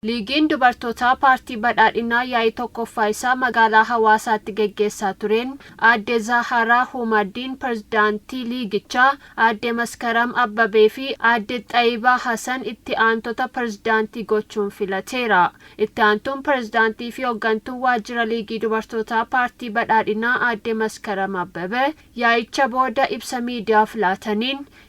Liigiin dubartootaa paartii Badhaadhinaa yaa'ii 1ffaa isaa magaalaa Hawaasaatti geggeessaa tureen Aadde Zahaaraa Humaddiin Pirezidaantii liigichaa, Aadde Maskaram Abbabee fi Aadde Xayibaa Hasan itti aantota pirezidaantii gochuun filateera. Itti aantuun pirezidaantii fi hoggantuun waajjira liigii dubartootaa paartii Badhaadhinaa Aadde Maskaram Abbabee yaa'icha booda ibsa miidiyaaf laataniin,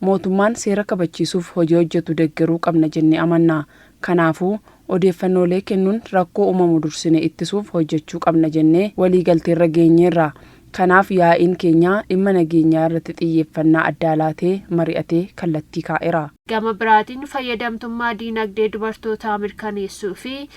Mootummaan seera kabachiisuuf hojii hojjetu deggeruu qabna jennee amanna. Kanaafuu, odeeffannoolee kennuun rakkoo uumamu dursine ittisuuf hojjechuu qabna jennee waliigalteerra geenyeerra. Kanaaf yaa'iin keenya dhimma nageenyaa irratti xiyyeeffannaa addaa laatee mari'atee kallattii kaa'era. Gama biraatiin, fayyadamtummaa diinagdee dubartootaa mirkaneessuu fi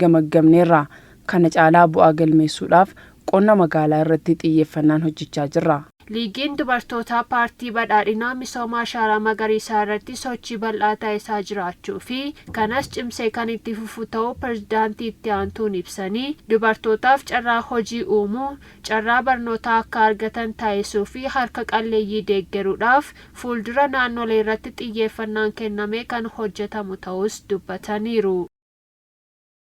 gamaggamneerra. Kana caalaa bu'aa galmeessuudhaaf qonna magaalaa irratti xiyyeeffannaan hojjechaa jirra. Liigiin Dubartootaa Paartii Badhaadhinaa misooma ashaaraa magariisaa irratti sochii bal'aa taasisaa jiraachuu fi kanas cimsee kan itti fufu ta'uu Pirezidaantii Itti Aantuun ibsanii, dubartootaaf carraa hojii uumuu, carraa barnootaa akka argatan taasisuu fi harka qalleeyyii deeggaruudhaaf fuuldura naannolee irratti xiyyeeffannaan kennamee kan hojjetamu ta'uus dubbataniiru.